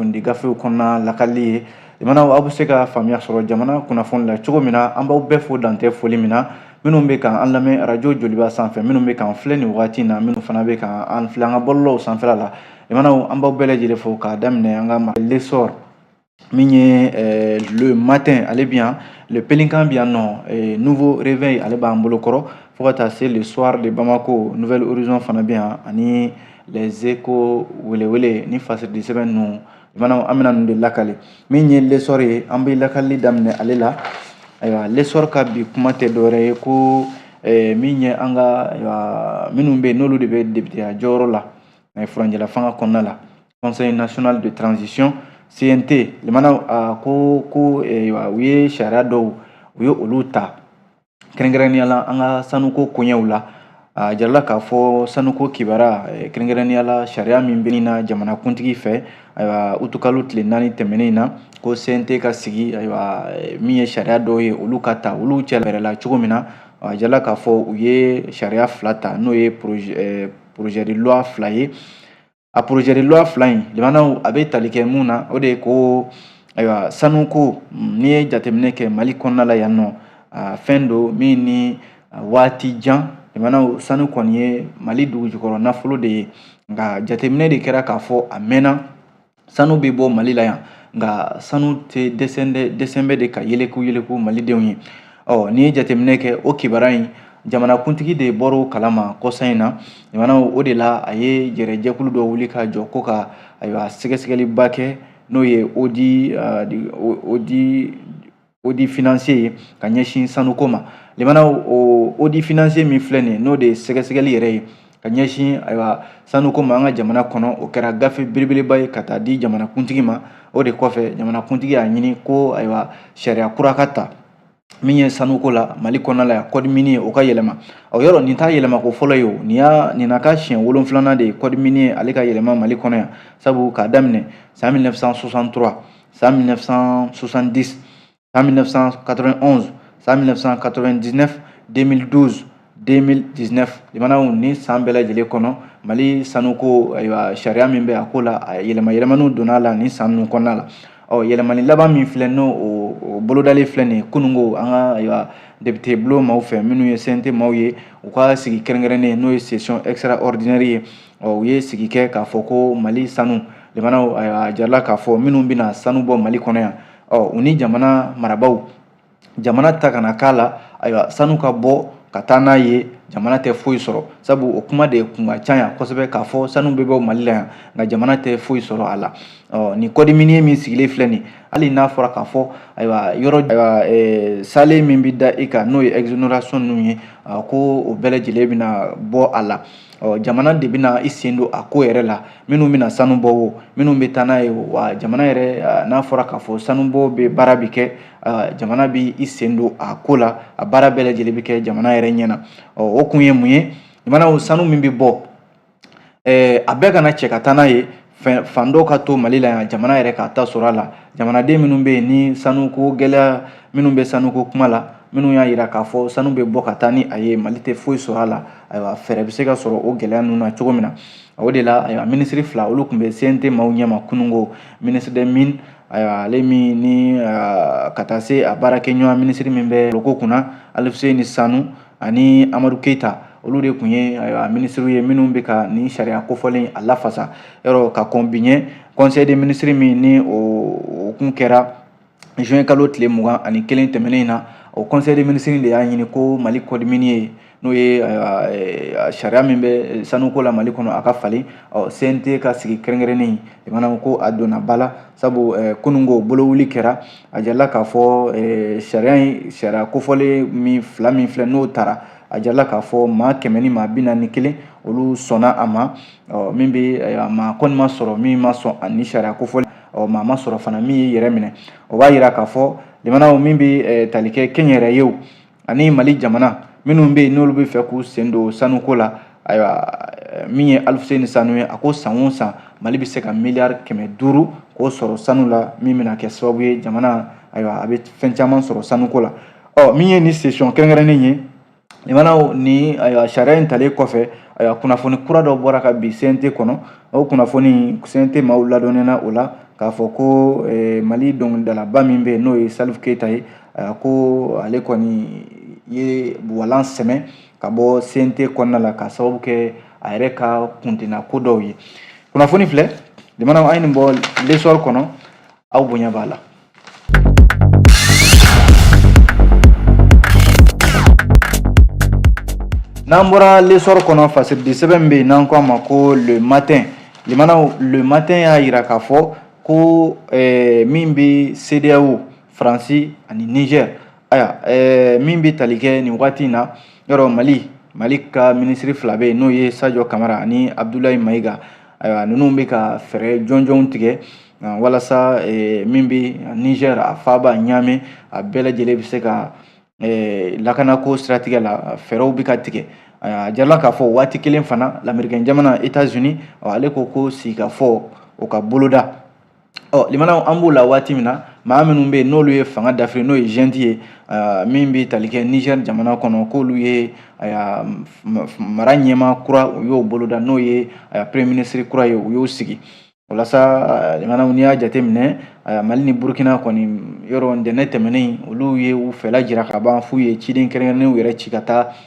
kunnafoni gafew kɔnɔna lakali ye jamanaw aw bɛ se ka faamuya sɔrɔ jamana kunnafoni la cogo min na an b'aw bɛɛ fo dantɛ foli min na minnu bɛ kan an lamɛn arajo joliba sanfɛ minnu bɛ k'an filɛ nin wagati in na minnu fana bɛ kan an filɛ an ka bɔlɔlɔw sanfɛla la jamanaw an b'aw bɛɛ lajɛlen fo k'a daminɛ an ka l'essor min ye eh, le matin ale bɛ yan le pélican bɛ yan nɔ eh, nouveau réveil ale b'an bolo kɔrɔ fo ka taa se le soir de bamako nouvel horizon fana bɛ yan ani les échos welewele ni fasiridi sɛbɛn ninnu jamanaw an bɛna ninnu de lakali min ye l'essor ye an bɛ lakalili daminɛ ale la ayiwa l'essor ka bi kuma tɛ dɔwɛrɛ ye ko eh, min ye an ka ayiwa minnu bɛ yen n'olu de bɛ depiteya jɔyɔrɔ la eh, furancɛla fanga kɔnɔna la conseil national de transition CNT jamana a ko ko eh, u ye sariya dɔw u ye olu ta kɛrɛnkɛrɛnnenya la an ka sanuko koɲɛw la a jirala k'a fɔ sanuko kibara eh, kɛrɛnkɛrɛnnenya la sariya min bɛ na jamanakuntigi fɛ ayiwa utikalo tile naani tɛmɛnen in na ko CNT ka sigi ayiwa eh, min ye sariya dɔw ye olu ka ta olu cɛ yɛrɛ la cogo min na a jirala k'a fɔ u ye sariya fila ta n'o ye projet de loi fila ye a projet de loi fila in limanaw a bɛ tali kɛ mun na o de ye ko ayiwa sanuko mm, n'i ye jateminɛ kɛ mali kɔnɔna la yan nɔ fɛn don min ni waati jan limanaw sanu kɔni ye mali dugujukɔrɔ nafolo de ye nka jateminɛ de kɛra k'a fɔ a mɛnna sanu bɛ bɔ mali la yan nka sanu tɛ dɛsɛlen bɛ de ka yeleku yeleku malidenw ye ɔ n'i ye jateminɛ kɛ o kibaruya in jamanakuntigi de bɔr'o kalama kɔsa in na jamana o de la a ye yɛrɛ jɛkulu dɔ wuli ka jɔ ko ka ayiwa sɛgɛsɛgɛliba kɛ n'o ye audit audit financier ye ka ɲɛsin sanuko ma limana o audit financier min filɛ nin ye n'o de ye sɛgɛsɛgɛli yɛrɛ ye ka ɲɛsin ayiwa sanuko ma an ka jamana kɔnɔ o kɛra gafe belebeleba ye ka taa di jamanakuntigi ma o de kɔfɛ jamanakuntigi y'a ɲini ko ayiwa sariya kura ka ta min ye sanuko la mali kɔnɔna la yan code minier o ka yɛlɛma o yɔrɔ nin t'a yɛlɛmako fɔlɔ ye o nin y'a nin na ka siɲɛ wolonfilanan de ye code minier ale ka yɛlɛma mali kɔnɔ yan sabu k'a daminɛ san 1963 san 1970 san 1991 san 1999 2012 2019 limanaw nin san bɛɛ lajɛlen kɔnɔ mali sanuko ayiwa sariya min bɛ a ko la a yɛlɛma yɛlɛmaniw donna a la nin san ninnu kɔnɔna la ɔ yɛlɛmani laban min filɛ n'o o bolodalen filɛ nin ye kununko an ka ayiwa depite bulon maaw fɛ minnu ye CNT maaw ye u ka sigi kɛrɛnkɛrɛnnen n'o ye session extraordinaire ye ɔ u ye sigi kɛ k'a fɔ ko mali sanu limanaw ayiwa a jirala k'a fɔ minnu bɛna sanu bɔ mali kɔnɔ yan ɔ u ni jamana marabaaw jamana ta kana k'a la ayiwa sanu ka bɔ ka taa n'a ye jamana tɛ foyi sɔrɔ sabu o kuma de kun ka ca yan kosɛbɛ k'a fɔ sanu bɛ bɔ mali la yan nka jamana tɛ foyi sɔrɔ a la ɔ nin code minier min sigilen filɛ nin hali n'a fɔra k'a fɔ ayiwa yɔrɔ ayiwa eh, saalen min bɛ da i kan n'o ye exonération ninnu ye ko o bɛɛ lajɛlen bɛna bɔ a la ɔ jamana de bɛna i sen don a ko yɛrɛ la minnu bɛna sanu bɔ o minnu bɛ taa n'a ye o wa jamana yɛrɛ n'a fɔra k'a fɔ sanubɔ bɛ baara bɛ kɛ jamana bɛ i sen don a ko la a baara bɛɛ lajɛlen bɛ kɛ jamana yɛrɛ ɲɛ na o kun ye mun ye jamana sanu min bɛ bɔ a bɛɛ kana cɛ ka taa n'a ye fɛn fan dɔw ka to mali la yan jamana yɛrɛ k'a ta sɔrɔ a la jamanaden minnu bɛ yen ni sanuko gɛlɛya minnu bɛ sanuko kuma la minnu y'a yira k'a fɔ sanu bɛ bɔ ka taa ni a ye mali tɛ foyi sɔrɔ a la ayiwa fɛɛrɛ bɛ se ka sɔrɔ o gɛlɛya ninnu na cogo min na o de la ayiwa minisiri fila olu tun bɛ CNT maaw ɲɛma kununko ministre des mines ayiwa ale min ni ka taa se a baarakɛɲɔgɔn minisiri min bɛ loko kunna Aluseni Sanu ani Amadu Keyita olu de tun ye ayiwa minisiriw ye minnu bɛ ka nin sariya kofɔlen a lafasa yɔrɔ ka kɔn bi ɲɛ Conseil des ministres min ni o kun kɛra juin kalo tile mugan ani kelen tɛmɛnen in na o conseil des ministres de y'a ɲini ko mali code minier n'o ye sariya min bɛ sanuko la mali kɔnɔ a ka falen cnt ka sigi kɛrɛnkɛrɛnnen in ko a donna ba la sabu kununko bolowuli kɛra a jirala k'a fɔ sariya in sariya kofɔlen min fila min filɛ n'o tara a jirala k'a fɔ maa kɛmɛ ni maa bi naani ni kelen olu sɔnna a ma min bɛ maa kɔni ma sɔrɔ min ma sɔn ani sariya kofɔlen ɔ maa ma sɔrɔ fana min y'i yɛrɛ minɛ o b'a yira k'a fɔ jamanaw min bɛ tali kɛ kɛnyɛrɛyew ani mali jamana minnu bɛ yen n'olu bɛ fɛ k'u sen don sanuko la ayiwa min ye aluseni sanu ye a ko san o san mali bɛ se ka miliyari kɛmɛ duuru k'o sɔrɔ sanu la min bɛna kɛ sababu ye jamana ayiwa a bɛ fɛn caman sɔrɔ sanuko la ɔ min ye nin session kɛrɛnkɛrɛnnen ye Lamɛnnaw ni ayiwa sariya in talen kɔfɛ ayiwa kunnafoni kura dɔ bɔra ka bin CNT kɔnɔ o kunnafoni CNT maaw ladɔnniyara o la k'a fɔ ko Mali dɔnkilidalaba min bɛ yen n'o ye Salif Keyita ye ayiwa ko ale kɔni ye walan sɛmɛ ka bɔ CNT kɔnɔna la k'a sababu kɛ a yɛrɛ ka kuntina ko dɔw ye kunnafoni filɛ lamɛnnaw an ye nin bɔ L'Essor kɔnɔ aw bonya b'a la. N'an bɔra L'Essor kɔnɔ fasiridi sɛbɛn bɛ yen n'an ko a ma ko Le Matin lamɛnnaw Le Matin y'a yira k'a fɔ ko min bɛ CEDEAO faransi ani nizɛr ayiwa eh, min bɛ tali kɛ nin waati in na yɔrɔ mali mali ka minisiri fila bɛ yen n'o ye sajɔ kamara ani abudulayi mayiga ayiwa ninnu bɛ ka fɛɛrɛ jɔnjɔnw tigɛ ah, walasa eh, min bɛ niger a faaba ɲaame a bɛɛ lajɛlen bɛ se ka eh, lakanako siratigɛ la fɛɛrɛw bɛ ka tigɛ a jirala k'a fɔ waati kelen fana lamerikɛn jamana etats unis ale ko ko sigikafɔ o ka boloda ɔ limanaw an b'o la waati min na maa minnu bɛ yen n'olu ye fanga dafiri n'o ye junte ye min bɛ tali kɛ nizɛri jamana kɔnɔ k'olu ye mara ɲɛmaa kura u y'o boloda n'o ye premier ministre kura ye u y'o sigi walasa limanaw n'i y'a jateminɛ mali ni burukina kɔni yɔrɔ ntɛnɛn tɛmɛnen olu ye u fɛla jira ka ban f'u ye ciden kɛrɛnkɛrɛnnenw yɛrɛ ci ka taa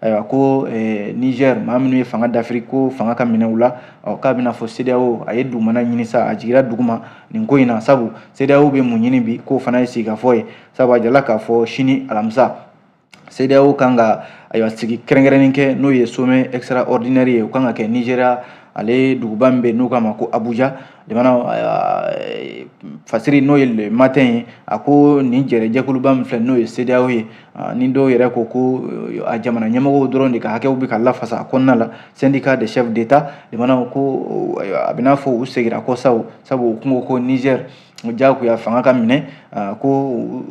ayiwa ko eh, niger maa minnu ye fanga dafiri ko fanga ka minɛ u la ɔ k'a bɛna fɔ sedeyawo a ye dugumana ɲini sa a jigira duguma nin ko in na sabu sedeyawo bɛ mun ɲini bi k'o fana ye sigikafɔ ye sabu a jirala k'a fɔ sini alamisa sedeyawo kan ka ayiwa sigi kɛrɛnkɛrɛnnen kɛ n'o ye sommet extraordinaire ye o kan ka kɛ nigeria ale duguba min bɛ n'u k'a ma ko abuja limanaw fasiri n'o ye le matin ye a ko nin jɛrɛ jɛkuluba min filɛ n'o ye sedeyawo ye ni dɔw yɛrɛ ko ko a jamana ɲɛmɔgɔw dɔrɔn de ka hakɛw bɛ ka lafasa a kɔnɔna la syndicat des chefs d'état limanaw ko a bɛ n'a fɔ u seginna kɔ sa sabu u kun ko nizɛri jagoya fanga ka minɛ ko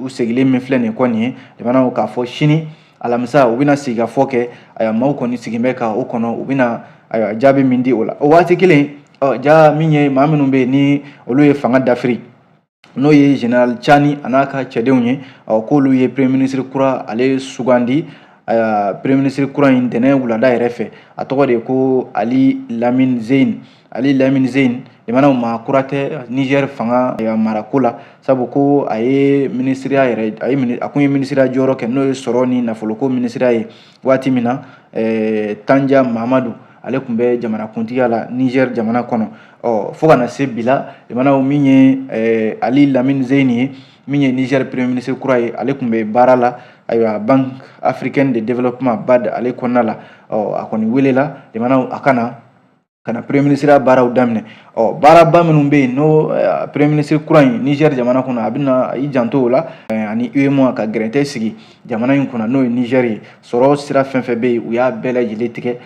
u segilen min filɛ nin kɔ nin ye limanaw k'a fɔ sini alamisa u bɛna sigikafɔ kɛ a maaw kɔni sigin bɛ ka o kɔnɔ u bɛna ayiwa jaabi min di o la o waati kelen ja min ye maa minnu bɛ yen ni olu ye fanga dafiri n'o ye general cani a n'a ka cɛdenw ye ɔ k'olu ye premier ministre kura ale sugandi ayiwa premier ministre kura in ntɛnɛn wulada yɛrɛ fɛ a tɔgɔ de ko ali lamine zein ali lamine zein limanaw maa kura tɛ niger fanga marako la sabu ko a ye minisiriya yɛrɛ a ye a kun ye minisiriya jɔyɔrɔ kɛ n'o ye sɔrɔ ni nafoloko minisiriya ye waati min na tanja mamadu ale tun bɛ jamanakuntigiya la nizɛri jamana kɔnɔ ɔ fo ka na se bi la limanaw min ye eh, ali lamini zeyini ye min ye nizɛri premier ministre kura ye ale tun bɛ baara la ayiwa banque africaine de développement bad ale kɔnɔna la ɔ a kɔni welela limanaw a ka na ka na premier ministreya baaraw daminɛ ɔ baaraba minnu bɛ yen n'o eh, premier ministre kura in nizɛri jamana kɔnɔ a bɛna i janto o la eh, ani uemoa ka gɛrɛntɛ sigi jamana in kunna n'o ye nizɛri ye sɔrɔ sira fɛn fɛn bɛ yen u y'a bɛɛ lajɛlen tigɛ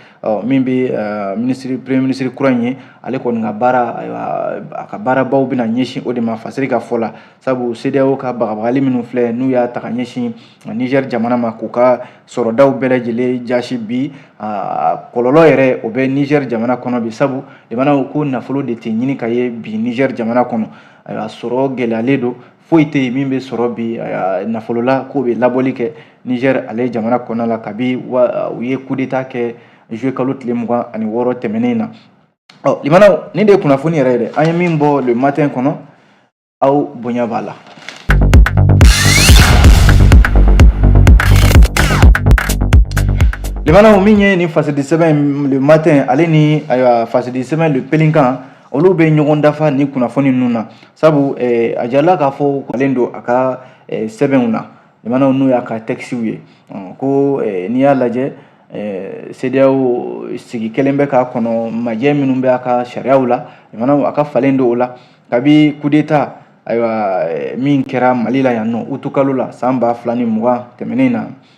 min bɛ minisiri premier minisiri kura in ye ale kɔni ka baara a ka baarabaw bɛna ɲɛsin o de ma fasiri ka fɔ la sabu CEDEAO ka bagabagali minnu filɛ n'u y'a ta ka ɲɛsin nizɛri jamana ma k'u ka sɔrɔdaw bɛɛ lajɛlen jasi bi kɔlɔlɔ yɛrɛ o bɛ nizɛri jamana kɔnɔ bi sabu limanaw ko nafolo de tɛ ɲini ka ye bi nizɛri jamana kɔnɔ ayiwa sɔrɔ gɛlɛyalen don foyi tɛ yen min bɛ sɔrɔ bi nafolo la k'o bɛ labɔli kɛ nizɛri ale jamana kɔnɔna la kabi wa u ye kudeta kɛ zuluye kalo tile mugan ani wɔɔrɔ tɛmɛnen na ɔ limanaw nin de ye kunnafoni yɛrɛ ye dɛ an ye min bɔ le matin kɔnɔ aw bonya b'a la limanaw min ye nin fasidisɛbɛn le matin ale ni ayiwa fasidisɛbɛn le pélican Olu bɛ ɲɔgɔn dafa ni kunnafoni ninnu na sabu a jarala k'a fɔ ale don a ka sɛbɛnw na limanaw n'o y'a ka tɛkisiw ye ko n'i y'a lajɛ CEDEAO sigi kelen bɛ k'a kɔnɔ majɛ minnu bɛ a ka sariyaw la a ka falen don o la kabi kudeta ayiwa min kɛra mali la yan nɔ utu kalo la san ba fila ni mugan tɛmɛnen na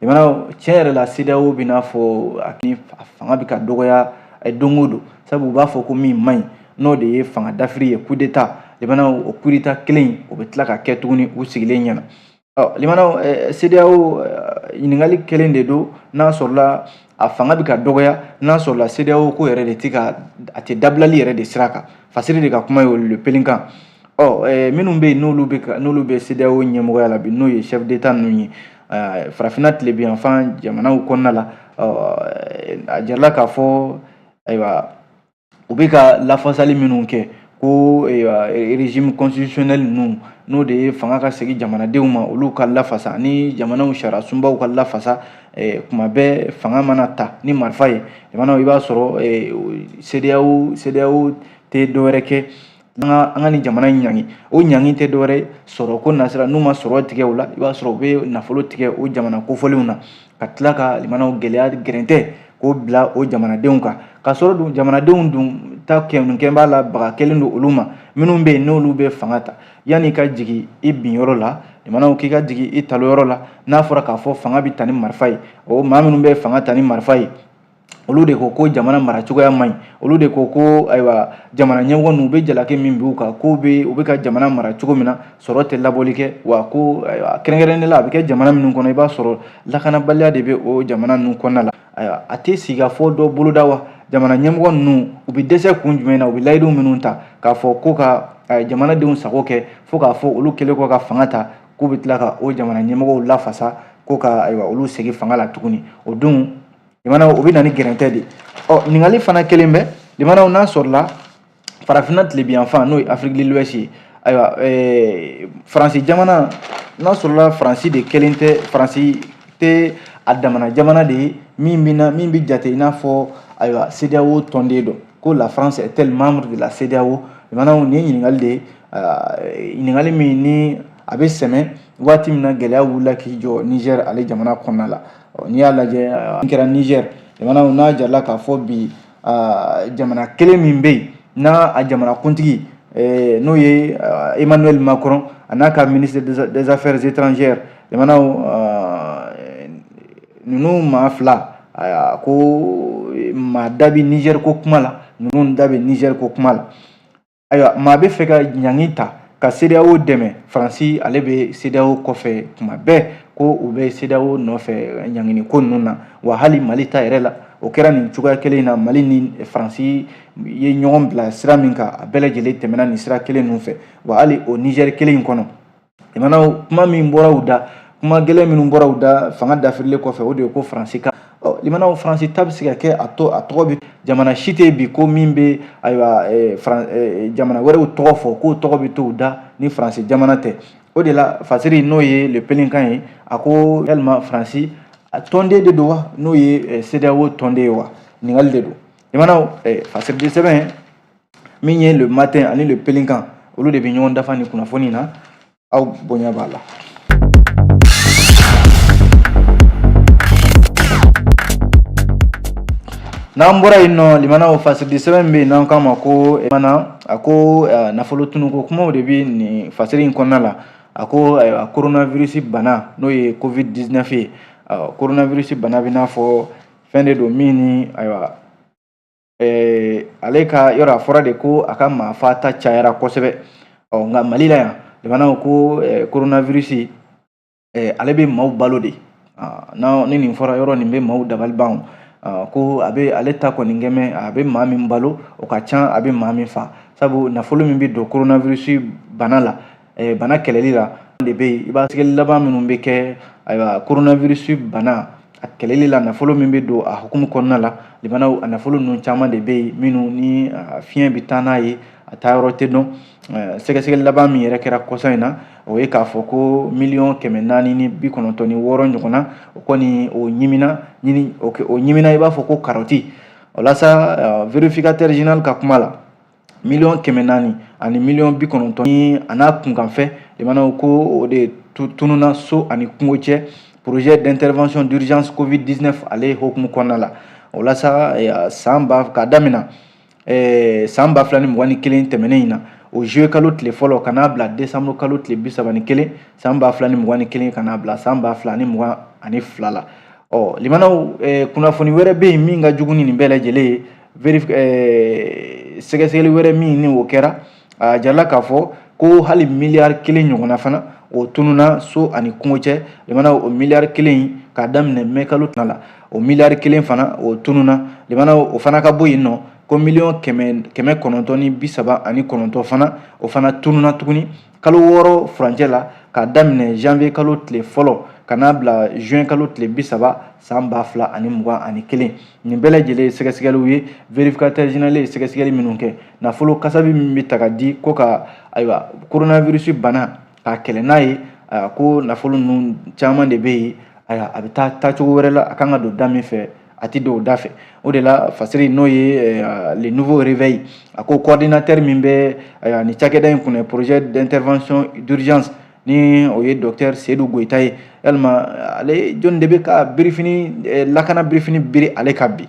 limanaw tiɲɛ yɛrɛ la CEDEAO bɛ n'a fɔ a ni a fanga bɛ ka dɔgɔya don o don sabu u b'a fɔ ko min man ɲi n'o de ye fanga dafiri ye coup d'etat limanaw o coup d'etat kelen in o bɛ tila ka kɛ tuguni u sigilen ɲɛna ɔ limanaw CEDEAO ɲininkali kelen de don n'a sɔrɔla a fanga bɛ ka dɔgɔya n'a sɔrɔla CEDEAO ko yɛrɛ de tɛ ka a tɛ dabilali yɛrɛ de sira kan fasiri de ka kuma ye olu le pélican ɔ minnu bɛ yen n'olu bɛ n'olu bɛ CEDEAO ɲɛmɔgɔya la bi n'o ye chef d'etat ninnu ye farafinna tilebinyanfan jamanaw kɔnɔna la a jarala k'a fɔ ayiwa u bɛ ka lafasali minnu kɛ ko regime constitutionnel ninnu n'o de ye fanga ka segin jamanadenw ma olu ka lafasa ni jamanaw sariya sunbaw ka lafasa kuma bɛɛ fanga mana ta ni marifa ye jamanaw i b'a sɔrɔ CEDEAO tɛ dɔwɛrɛ kɛ an ka an ka nin jamana in ɲangi o ɲangi tɛ dɔwɛrɛ ye sɔrɔko nasira n'u ma sɔrɔ tigɛ o la i b'a sɔrɔ u bɛ nafolo tigɛ o jamana kofɔlenw na ka tila ka limanaw gɛlɛya gɛrɛntɛ k'o bila o jamanadenw kan ka sɔrɔ dun jamanadenw dun ta kɛnunkɛ b'a la baga kɛlen don olu ma minnu bɛ yen n'olu bɛ fanga ta yanni ka jigin i bin yɔrɔ la limanaw k'i ka jigin i talon yɔrɔ la n'a fɔra k'a fɔ fanga bɛ ta ni marifa ye o maa minnu bɛ fanga ta ni marifa ye olu de ko ko jamana mara cogoya man ɲi olu de ko ko ayiwa jamana ɲɛmɔgɔ ninnu u bɛ jalaki min b'u kan k'u bɛ u bɛ ka jamana mara cogo min na sɔrɔ tɛ labɔli kɛ wa ko ayiwa kɛrɛnkɛrɛnnen la a bɛ kɛ jamana minnu kɔnɔ i b'a sɔrɔ lakanabaliya de bɛ o jamana ninnu kɔnɔna la ayiwa a tɛ sigikafɔ dɔ boloda wa jamana ɲɛmɔgɔ ninnu u bɛ dɛsɛ kun jumɛn na u bɛ layidu minnu ta k'a fɔ ko ka jamanadenw sago kɛ fo k'a fɔ olu kɛlen kɔ ka fanga ta k'u bɛ tila ka o jamana ɲɛmɔgɔw lafasa ko ka ayiwa olu segin fanga la tuguni o don limanaw o bɛ na ni gɛrɛntɛ de ye ɔ ɲininkali fana kɛlen bɛ limanaw n'a sɔrɔla farafinna tilebinyanfan n'o ye Afrique de l'ouest ye ayiwa ɛɛ faransi jamana n'a sɔrɔla faransi de kelen tɛ faransi tɛ a damana jamana de ye min bɛ na min bɛ jate i n'a fɔ ayiwa CEDEAO tɔnden don ko la France est elle membre de la CEDEAO limanaw nin ye ɲininkali de ye ɲininkali min ni a bɛ sɛmɛ waati min na gɛlɛya wulila k'i jɔ Niger ale jamana kɔnɔna la n'i y'a lajɛ n kɛra Niger jamana n'a jarala k'a fɔ bi jamana kelen min bɛ yen n'a a jamanakuntigi n'o ye emmanuel macron a n'a ka ministre des affaires étrangères jamanaw ninnu maa fila ko maa da bɛ Niger ko kuma la ninnu da bɛ Niger ko kuma la ayiwa maa bɛ fɛ ka ɲangi ta ka CEDEAO dɛmɛ Faransi ale bɛ CEDEAO kɔfɛ tuma bɛɛ ko u bɛ CEDEAO nɔfɛ ɲangini ko ninnu na wa hali Mali ta yɛrɛ la o kɛra nin cogoya kelen in na Mali ni Faransi ye ɲɔgɔn bila sira min kan a bɛɛ lajɛlen tɛmɛna nin sira kelen ninnu fɛ wa hali o Niger kelen in kɔnɔ limanaw kuma min bɔra u da kuma gɛlɛn minnu bɔra u da fanga dafirilen kɔfɛ o de ye ko faransi ka limanaw faransi ta bɛ se ka kɛ a to a tɔgɔ bɛ jamana si tɛ bi ko min bɛ ayiwa jamana wɛrɛw tɔgɔ fɔ k'o tɔgɔ bɛ to u da ni faransi jamana tɛ o de la fasiri n'o ye le pélican ye a ko yalima faransi a tɔnden de don wa n'o ye CEDEAO tɔnden ye wa ɲininkali de don limanaw fasiriden sɛbɛn min ye le matin ani le pélican olu de bɛ ɲɔgɔn dafa nin kunnafoni na aw bonya b'a la n'an bɔra yen nɔ limanaw fasiri sɛbɛn bɛ yen n'an k'a ma ko eh, mana a ko eh, nafolo tunuko kumaw de bɛ nin fasiri in kɔnɔna la a ko eh, ayiwa coronavirus bana n'o ye covid 19 ye coronavirus bana bɛ i n'a fɔ fɛn de don min ni ayiwa eh, ale ka yɔrɔ a fɔra de ko a ka maa fata cayara kosɛbɛ ɔ nka mali la yan limanaw ko eh, coronavirus eh, ale bɛ maaw balo de ah, na ni nin fɔra yɔrɔ nin bɛ maaw dabali ban ah, ko a bɛ ale ta kɔni kɛmɛ a bɛ maa min balo o ka ca a bɛ maa min fa sabu nafolo min bɛ don coronavirus bana la bana kɛlɛli la de bɛ yen sɛgɛsɛgɛli laban minnu bɛ kɛ ayiwa coronavirus bana a kɛlɛli la nafolo min bɛ don a hukumu kɔnɔna la limanaw a nafolo ninnu caman de bɛ yen minnu ni fiɲɛ bɛ taa n'a ye a taa yɔrɔ tɛ dɔn sɛgɛsɛgɛli laban min yɛrɛ kɛra kɔsa in na o ye k'a fɔ ko miliyɔn kɛmɛ naani ni bi kɔnɔntɔn ni wɔɔrɔ ɲɔgɔnna o kɔni o ɲimina ɲini o ɲimina i b'a fɔ ko karɔti o la sa vérificateur général ka kuma la miliyɔn kɛmɛ naani ani miliyɔn bi kɔnɔntɔn ni a n'a kunkanfɛn limanaw ko o de tununna so ani kungo cɛ projet d'intervention d'urgence covid 19 ale hukumu kɔnɔna la o la sa eh, san ba k'a damina eh, san ba fila ni mugan ni kelen tɛmɛnen in na o juillet kalo tile fɔlɔ ka n'a bila desanburu kalo tile bi saba ni kelen san ba fila ni mugan ni kelen ka n'a bila san ba fila ni mugan ani fila la ɔ limanaw eh, kunnafoni wɛrɛ bɛ yen min ka jugu ni nin bɛɛ lajɛlen ye eh, sɛgɛsɛgɛli wɛrɛ min ni o kɛra a jirala k'a fɔ ko hali miliyari kelen ɲɔgɔnna fana o tununa so ani kungo cɛ limana o miliyari kelen k'a daminɛ mɛ kalo tana la o miliyari kelen fana o tununa limana o fana ka bɔ yen nɔ ko miliyɔn kɛmɛ kɛmɛ kɔnɔntɔn ni bi saba ani kɔnɔntɔn fana o fana tununa tuguni kalo wɔɔrɔ furancɛ la k'a daminɛ janvier kalo tile fɔlɔ ka n'a bila juin kalo tile bi saba san ba fila ani mugan ani kelen nin bɛɛ lajɛlen sɛgɛsɛgɛliw ye vérificateur général ye sɛgɛsɛgɛli minnu kɛ nafolo kasabi min bɛ ta ka di ko ka ayiwa coronavirus bana k'a kɛlɛ n'a ye ko nafolo ninnu caman de bɛ yen ayiwa a bɛ taa cogo wɛrɛ la a kan ka don da min fɛ a tɛ don o da fɛ o de la fasiri n'o ye eh, ah, le nouveau réveil a ko coordinateur min bɛ eh, ni cakɛda in kunna projet d'intervention d'urgence ni o ye docteur seyidu goyita ye yalima ale jɔni de bɛ ka birifini eh, lakana birifini biri ale kan bi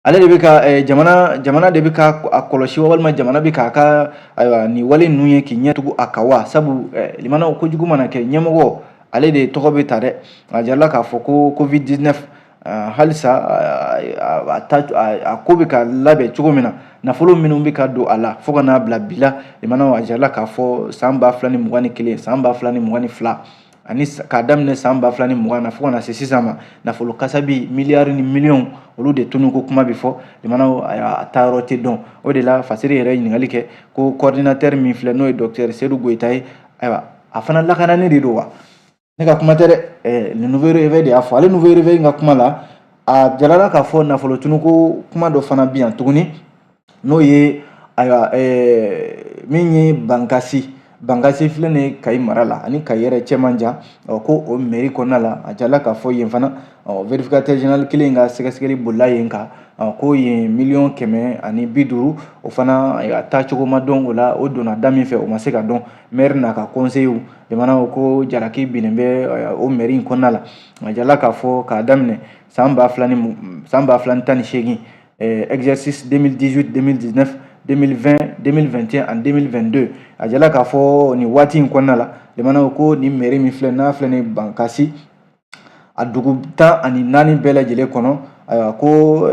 ale de bɛ ka jamana jamana de bɛ ka a kɔlɔsi walima jamana bɛ k'a ka ayiwa nin wale ninnu ye k'i ɲɛtugu a kan wa sabu limanaw kojugu mana kɛ ɲɛmɔgɔ ale de tɔgɔ bɛ ta dɛ a jirala k'a fɔ ko covid 19 halisa a ta a ko bɛ ka labɛn cogo min na nafolo minnu bɛ ka don a la fo ka n'a bila bi la limanaw a jirala k'a fɔ san ba fila ni mugan ni kelen san ba fila ni mugan ni fila ani k'a daminɛ san ba fila ni mugan na fo ka na se sisan ma nafolo kasabi miliyari ni miliyɔn olu de tununko kuma bɛ fɔ limanaw a taa yɔrɔ tɛ dɔn o de la fasiri yɛrɛ ɲininkali kɛ ko coordinateur min filɛ n'o ye docteur seyidu goyita ye ayiwa a fana lakanani de don wa ne ka kuma tɛ dɛ ɛɛ le nouveau réveil de y'a fɔ ale nouveau réveil in ka kuma la a jirala k'a fɔ nafolo tununko kuma dɔ fana bi yan tuguni n'o ye ayiwa ɛɛ min ye bangasi bangasi filɛ nin ye kayi mara la ani kayi yɛrɛ cɛ man jan ɔ ko o mɛri kɔnɔna la a jirala k'a fɔ yen fana ɔ verifikatɛri zenerali kelen ka sɛgɛsɛgɛli bolila yen kan ko yen miliyɔn kɛmɛ ani bi duuru o fana a taacogo ma dɔn o la o donna da min fɛ o ma se ka dɔn mɛri n'a ka kɔnseyiw limanaw ko jalaki binnen bɛ o mɛri in kɔnɔna la a jirala k'a fɔ k'a daminɛ san ba fila ni san ba fila ni tan ni seegin exercice 2018 2019 2020 2021 ani 2022 a jirala k'a fɔ nin waati in kɔnɔna la limanaw ko nin mɛri min filɛ n'a filɛ nin bangasi a dugu tan ani naani bɛɛ lajɛlen kɔnɔ ayiwa ko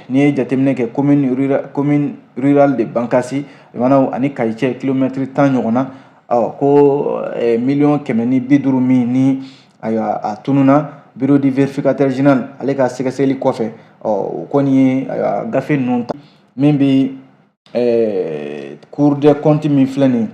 n'i ye jateminɛ kɛ commune rurale de Bankasi lamɛnnaw ani Kayi cɛ kilomɛtiri tan ɲɔgɔn na ɔ ko miliyɔn kɛmɛ ni bi duuru min ni ayiwa a tununna bureau du vérificateur général ale ka sɛgɛsɛgɛli kɔfɛ ɔ o kɔni ye ayiwa gafe ninnu ta min bɛ cour des comptes min filɛ nin ye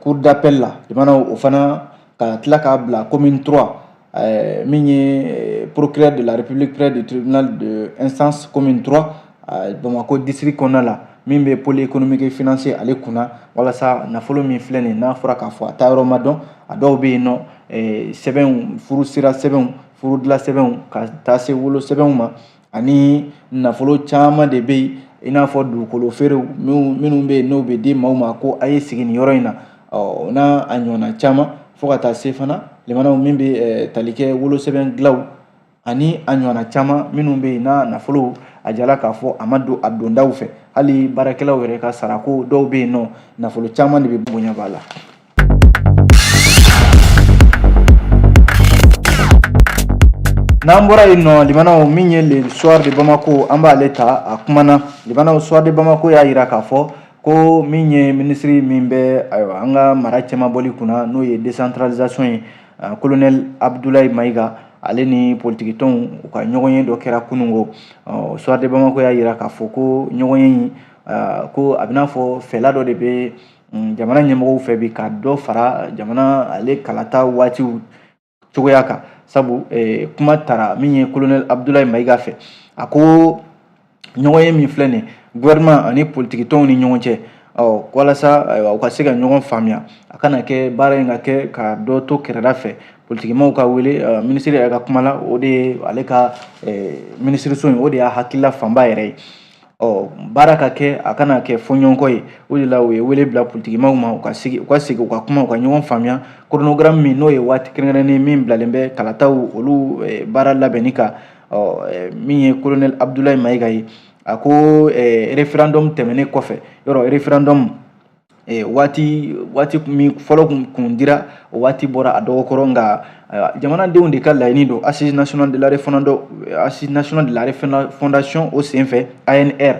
cour d'appel la jamana o fana ka tila k'a bila commune 3 euh, min ye procureur de la république près du tribunal de instance commune 3 euh, bamakɔ district kɔnɔna la min bɛ pôle économique et financier ale kunna walasa nafolo min filɛ nin n'a fɔra k'a fɔ a taa yɔrɔ ma dɔn a dɔw bɛ yen nɔ sɛbɛnw furu sira sɛbɛnw furudila sɛbɛnw ka taa se wolo sɛbɛnw ma ani nafolo caman de bɛ yen i n'a fɔ dugukolo feerew minnu bɛ yen n'o bɛ di maaw ma ko a ye sigi nin yɔrɔ in na o n'a ɲɔgɔnna caman fo ka taa se fana lamɛnnaw min bɛ tali kɛ wolosɛbɛn dilaw ani a ɲɔgɔnna caman minnu bɛ yen n'a nafolo a jirala k'a fɔ a ma don a dondaw fɛ hali baarakɛlaw yɛrɛ ka sarako dɔw bɛ yen nɔ nafolo caman de bɛ bonya b'a la N'an bɔra yen nɔ lamɛnnaw min ye le soir de bamakɔ an b'ale ta a kumana lamɛnnaw soir de bamakɔ y'a jira k'a fɔ ko min ye minisiri min bɛ ayiwa an ka mara cɛmabɔli kunna n'o ye décentralisation ye kolonɛli abudulayi mayiga ale ni politikitɔnw u ka ɲɔgɔnye dɔ kɛra kunungo ɔ soir de bamakɔ y'a jira k'a fɔ ko ɲɔgɔnye in ko a bɛ n'a fɔ fɛla dɔ de bɛ mm, jamana ɲɛmɔgɔw fɛ bi ka dɔ fara jamana ale kalata waatiw cogoya kan sabu eh, kuma tara min ye kolonɛli abudulayi mayiga fɛ a ko ɲɔgɔnye min filɛ nin gouvernement ani politikitɔnw ni ɲɔgɔn cɛ ɔ walasa ayiwa u ka se ka ɲɔgɔn faamuya a kana kɛ baara in ka kɛ ka dɔ to kɛrɛda fɛ politikimaaw ka wele eh, minisiri yɛrɛ ka kuma la o de ye ale ka eh, minisiriso in o de y'a hakilila fanba yɛrɛ ye ɔ baara ka kɛ a kana kɛ fɔɲɔgɔnkɔ ye o de la u ye wele bila politikimaaw ma u ka sigi u ka kuma u ka ɲɔgɔn faamuya chronogramme min n'o ye waati kɛrɛnkɛrɛnnen min bilalen bɛ kalataw olu baara labɛnni kan ɔ min ye kolonɛli abudulayi mayiga ye a ko referendum tɛmɛnen kɔfɛ yɔrɔ referendum waati waati min fɔlɔ kun dira o waati bɔra a dɔgɔ kɔrɔ nka jamanadenw de ka laɲini don assises nationales de la refondation o senfɛ ANR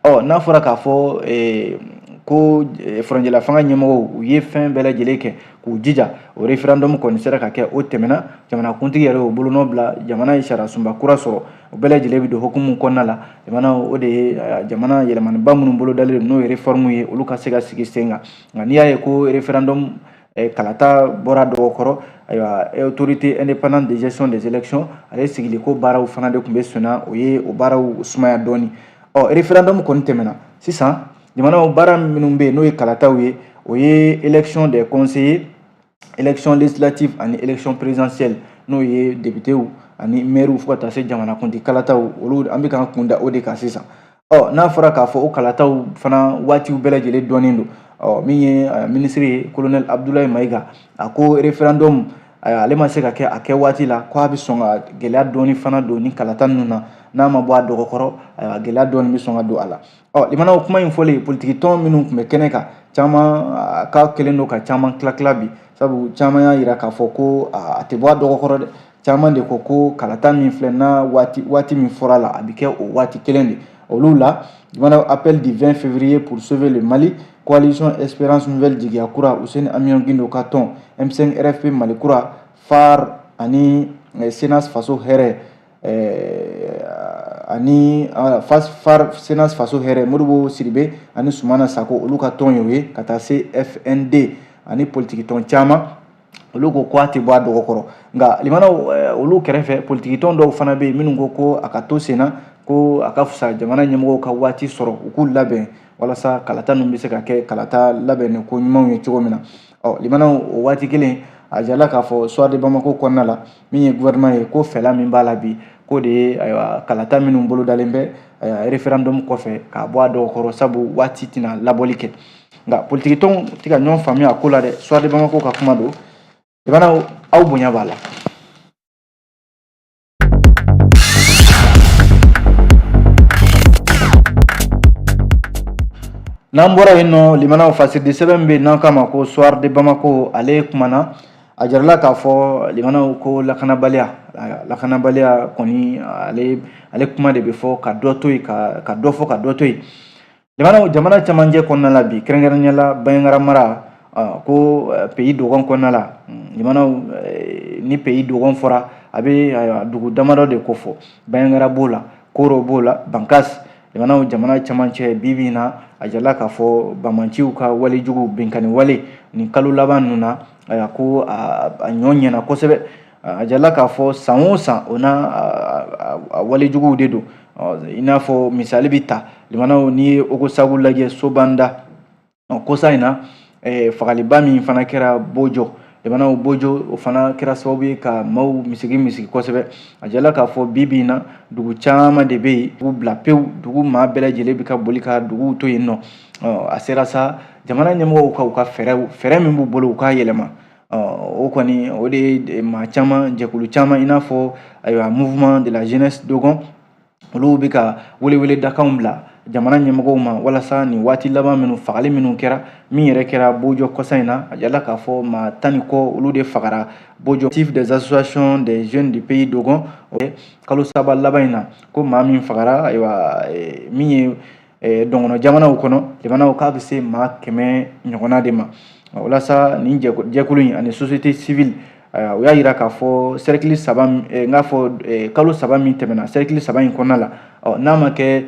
ɔ n'a fɔra k'a fɔ ko furancɛla fanga ɲɛmɔgɔw u ye fɛn bɛɛ lajɛlen kɛ k'u jija o referendum kɔni sera ka kɛ o tɛmɛna jamanakuntigi yɛrɛ y'o bolonɔ bila jamana ye sariyasunba kura sɔrɔ o bɛɛ lajɛlen bɛ don hukumu kɔnɔna la limanaw o de ye jamana yɛlɛmaniba minnu bolo dalen n'o ye réforme ye olu ka se ka sigi sen kan nka n'i y'a ye ko referendum kalata bɔra dɔgɔkɔrɔ ayiwa autorité indépendante de gestion des élections ale sigiliko baaraw fana de tun bɛ senna o ye o baaraw sumaya dɔɔni ɔ referendum kɔni tɛmɛna sisan jamanaw baara minnu bɛ yen n'o ye kalataw ye o ye élection des conseillers election législative ani election présidentielle n'o ye depitew ani mɛriw fo ka taa se jamanakuntigi kalataw olu an bɛ k'an kun da o de kan sisan ɔ n'a fɔra k'a fɔ o kalataw fana waatiw bɛɛ lajɛlen dɔnnen don ɔ min ye minisiri ye kolonɛli abudulayi mayiga a ko referendum ale ma se ka kɛ a kɛ waati la ko a bɛ sɔn ka gɛlɛya dɔɔni fana don ni kalata ninnu na n'a ma bɔ a dɔgɔkɔrɔ gɛlɛya dɔɔni bɛ sɔn ka don a la Ɔ limanaw kuma in fɔlen politikitɔn minnu tun bɛ kɛnɛ kan caman ka kelen don ka caman tila tila bi sabu caman y'a jira k'a fɔ ko a tɛ bɔ a dɔgɔkɔrɔ dɛ caman de ko ko kalata min filɛ n'a waati waati min fɔra la a bɛ kɛ o waati kelen de olu la limanaw appel du 20 février pour sauver le Mali coalition espérance nouvelle jigiya kura Housseini Amion Guindo ka tɔn M5 RFP Mali kura FARE ani eh, CNAS faso hɛrɛ ani cnas faso hɛrɛ modibo sidibe ani sumana sako olu ka tɔn y'o ye ka taa se fnd ani politikitɔn caman olu ko ko a tɛ bɔ a dɔgɔkɔrɔ nka limanaw olu kɛrɛfɛ politikitɔn dɔw fana bɛ yen minnu ko ko a ka to senna ko a ka fisa jamana ɲɛmɔgɔw ka waati sɔrɔ u k'u labɛn walasa kalata ninnu bɛ se ka kɛ kalata labɛnnen ko ɲumanw ye cogo min na ɔ limanaw o waati kelen a jala k'a fɔ soir de bamako kɔnɔna la min ye gouvernement ye ko fɛla min b'a la bi k'o de ye ayiwa kalata minnu bolodalen bɛ ayiwa referendum kɔfɛ k'a bɔ a dɔgɔkɔrɔ sabu waati tɛna labɔli kɛ nka politikitɔnw tɛ ka ɲɔgɔn faamuya a ko la dɛ soir de bamako ka kuma don limanaw aw bonya b'a la n'an bɔra yen nɔ limanaw fasiridi sɛbɛn min bɛ yen n'an k'a ma ko soir de bamako ale kumana a jarala k'a fɔ limanaw ko lakanabaliya lakanabaliya kɔni ale ale kuma de bɛ fɔ ka dɔ to yen ka ka dɔ fɔ ka dɔ to yen limanaw jamana cɛmancɛ kɔnɔna la bi kɛrɛnkɛrɛnnenya la bandiagara mara ko pays dogon kɔnɔna la limanaw ni pays dogon fɔra a bɛ dugu damadɔ de kofɔ bandiagara b'o la koro b'o la bankas limanaw jamana cɛmancɛ bi bi in na a jala k'a fɔ banbaanciw ka wale jugu binkanni wale nin kalo laban ninnu na a ko a ɲɔ ɲɛna kosɛbɛ a jala k'a fɔ san o san o n'a a wale juguw de don i n'a fɔ misali bɛ ta limanaw n'i ye ogosagu lajɛ sobanda ɔ kɔsa in na eh, fagaliba min fana kɛra bojɔ jamanaw bojo o fana kɛra sababu ye ka maaw misigi misigi kosɛbɛ a jala k'a fɔ bi bi in na dugu caman de bɛ yen dugu bila pewu dugu maa bɛɛ lajɛlen bɛ ka boli ka duguw to yen nɔ a sera sa jamana ɲɛmɔgɔw ka u ka fɛɛrɛw fɛɛrɛ min b'u bolo u k'a yɛlɛma o kɔni o de ye maa caman jɛkulu caman i n'a fɔ ayiwa mouvement de la jeunesse dogon olu bɛ ka weleweledakanw bila jamana ɲɛmɔgɔw ma walasa nin waati laban minnu fagali minnu kɛra min yɛrɛ kɛra bojɔ kɔsa in na a jala k'a fɔ maa tan ni kɔ olu de fagara bojɔ collectif des associations des jeunes du pays dogon kalo saba laban in na ko maa min fagara ayiwa min ye dɔgɔnɔ jamanaw kɔnɔ limanaw k'a bɛ se maa kɛmɛ ɲɔgɔnna de ma walasa nin jɛkulu in ani société civile u y'a jira k'a fɔ sɛrikili saba n k'a fɔ kalo saba min tɛmɛna sɛrikili saba in kɔnɔna la n'a ma kɛ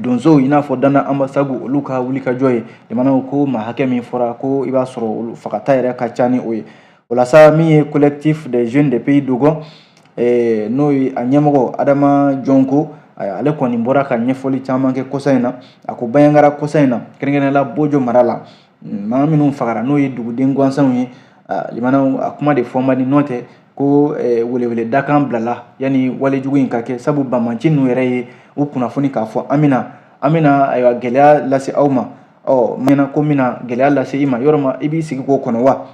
donsow i n'a fɔ dana anbasagu olu ka wulikajɔ ye limanaw ko maa hakɛ min fɔra ko i b'a sɔrɔ olu fagata yɛrɛ ka ca ni o ye walasa min ye collectif des jeunes de pays dogon eh, n'o ye a ɲɛmɔgɔ adama jɔngo ale kɔni bɔra ka ɲɛfɔli caman kɛ kɔsa in na a ko baɲagara kɔsa in na kɛrɛnkɛrɛnnenya la bojo mara la mm, maa minnu fagara n'o ye duguden gansanw ye limanaw a kuma de fɔ man di n'o tɛ ko eh, weleweledakan bilala yanni walejugu in ka kɛ sabu bamanci ninnu yɛrɛ ye u kunnafoni k'a fɔ an bɛna an bɛna ayiwa gɛlɛya lase aw ma ɔ ɲɛna ko n bɛna gɛlɛya lase i ma yɔrɔ ma i b'i sigi k'o kɔnɔ wa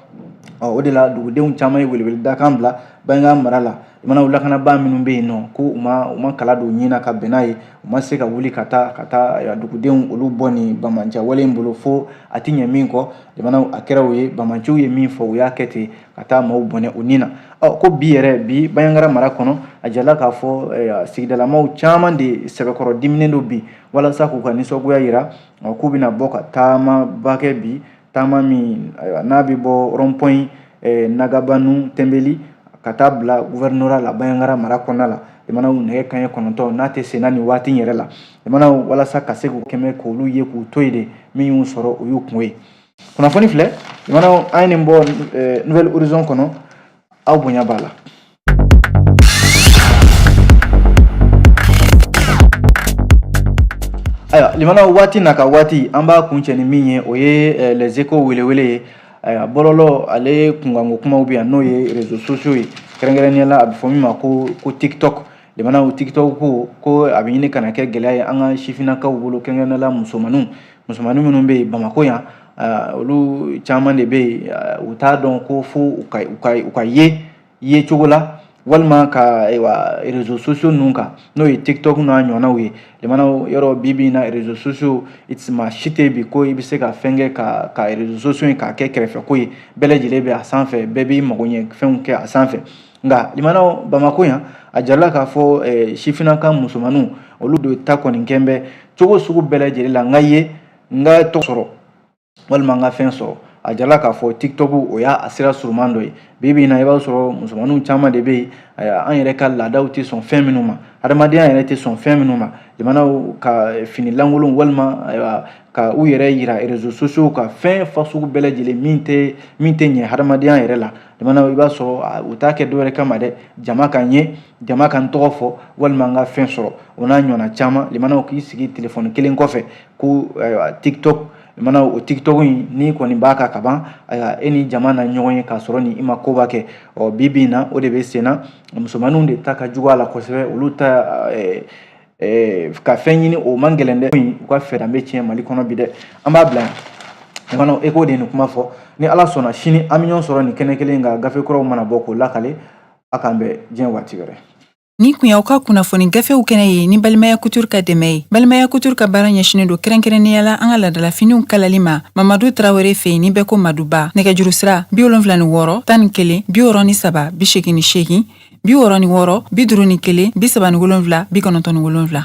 ɔ o de la dugudenw caman ye weleweledakan bila baɲagara mara la limanaw lakanabaa minnu bɛ yen nɔ ko u ma u ma kala don ɲin na ka bɛn n'a ye u ma se ka wuli ka taa ka taa dugudenw olu bɔ nin bamanciya wale in bolo fo a tiɲɛnen kɔ jamana a kɛra o ye bamanciw ye min fɔ u y'a kɛ ten ka taa maaw bɔnɛ u ni na ɔ ko bi yɛrɛ bi baɲagara mara kɔnɔ a jala k'a fɔ sigidalamaw caman de sɛbɛkɔrɔ diminen don bi walasa k'u ka nisɔngoya jira ɔ k'u bɛna bɔ ka taamaba kɛ bi taama min ayiwa n'a bɛ bɔ rond-point eh, nagabanu tɛnbeli ka taa bila gouvernorat la baɲagara mara kɔnɔna la jamanaw nɛgɛ kanɲɛ kɔnɔntɔn n'a tɛ senna nin waati yɛrɛ la jamanaw walasa ka se k'u kɛmɛ k'olu ye k'u to yen de min y'u sɔrɔ o y'u kun ye kunnafoni filɛ jamanaw an ye nin bɔ eh, nouvel horizon kɔnɔ aw bonya b'a la ayiwa limanaw waati n'a ka waati an b'a kuncɛ ni min ye o ye eh, les échos welewele ye ayiwa bɔlɔlɔ ale kunkanko kumaw bɛ yan n'o ye réseaux sociaux ye kɛrɛnkɛrɛnnenya la a bɛ fɔ min ma ko ko tiktok limanaw tiktok ko ko a bɛ ɲini ka na kɛ gɛlɛya ye an ka sifinnakaw bolo kɛrɛnkɛrɛnnenya la musomanninw musomannin minnu bɛ yen bamakɔ yan ah, olu caman de bɛ yen ah, u t'a dɔn ko fo u ka u ka u ka ye ye cogo la walima ka ayiwa rezo sosiyo ninnu kan n'o ye tiktok n'a ɲɔgɔnnaw ye limanaw yɔrɔ bi bi in na rezo sosiyo maa si tɛ bi ko i bɛ se ka fɛn kɛ ka ka rezo sosiyo in k'a kɛ kɛrɛfɛko ye bɛɛ lajɛlen bɛ a sanfɛ bɛɛ b'i mago ɲɛ fɛnw kɛ a sanfɛ nka limanaw bamakɔ yan a jirala k'a fɔ eh, sifinna ka musomanninw olu de ta kɔni kɛn bɛ cogo sugu bɛɛ lajɛlen la n ka ye n ka tɔgɔ sɔrɔ walima n ka fɛn sɔrɔ a jirala k'a fɔ tiktok o y'a a sira suruman dɔ ye bi bi in na i b'a sɔrɔ musomanninw caman de bɛ yen an yɛrɛ ka laadaw tɛ sɔn fɛn minnu ma hadamadenya yɛrɛ tɛ sɔn fɛn minnu ma jamanaw ka eh, fini lankolonw walima ayiwa ka u yɛrɛ yira rezo sosiyow kan fɛn fasugu bɛɛ lajɛlen min tɛ min tɛ ɲɛ hadamadenya yɛrɛ la jamana i b'a sɔrɔ u t'a kɛ dɔwɛrɛ kama dɛ jama ka n ye jama ka n tɔgɔ fɔ walima n ka fɛn sɔrɔ o n'a ɲɔgɔnna caman limanaw k'i sigi telefɔni kelen kɔfɛ ko ayiwa tiktok mana o tiktok in n'i kɔni b'a kan ka ban ayiwa e ni jama na ɲɔgɔn ye k'a sɔrɔ ni i ma koba kɛ ɔ bi bi in na o de bɛ senna musomanninw de ta ka jugu a la kosɛbɛ olu ta eh, ka fɛn ɲini o man gɛlɛn dɛ u ka fɛɛrɛ bɛ tiɲɛ mali kɔnɔ bi dɛ an b'a bila yan fana eko de ye nin kuma fɔ ni ala sɔnna sini an bɛ ɲɔgɔn sɔrɔ nin kɛnɛ kelen kan gafe kuraw mana bɔ k'o lakale a k'an bɛn diɲɛ waati wɛrɛ nin kun y'aw ka kunnafoni gafew kɛnɛ ye ni balimaya kutur ka dɛmɛ ye balimaya kutur ka baara ɲɛsinnen don kɛrɛnkɛrɛnnenya la an ka laadalafiniw kalali ma mamadu tarawele fɛ yen ni bɛɛ ko maduba nɛgɛjuru sira bi wolonfila ni wɔɔrɔ tan ni kelen bi wɔɔrɔ ni saba bi segin ni segin bi wɔɔrɔ ni wɔɔrɔ bi duuru ni kelen bi saba ni wolonwula bi kɔnɔntɔn ni wolonwula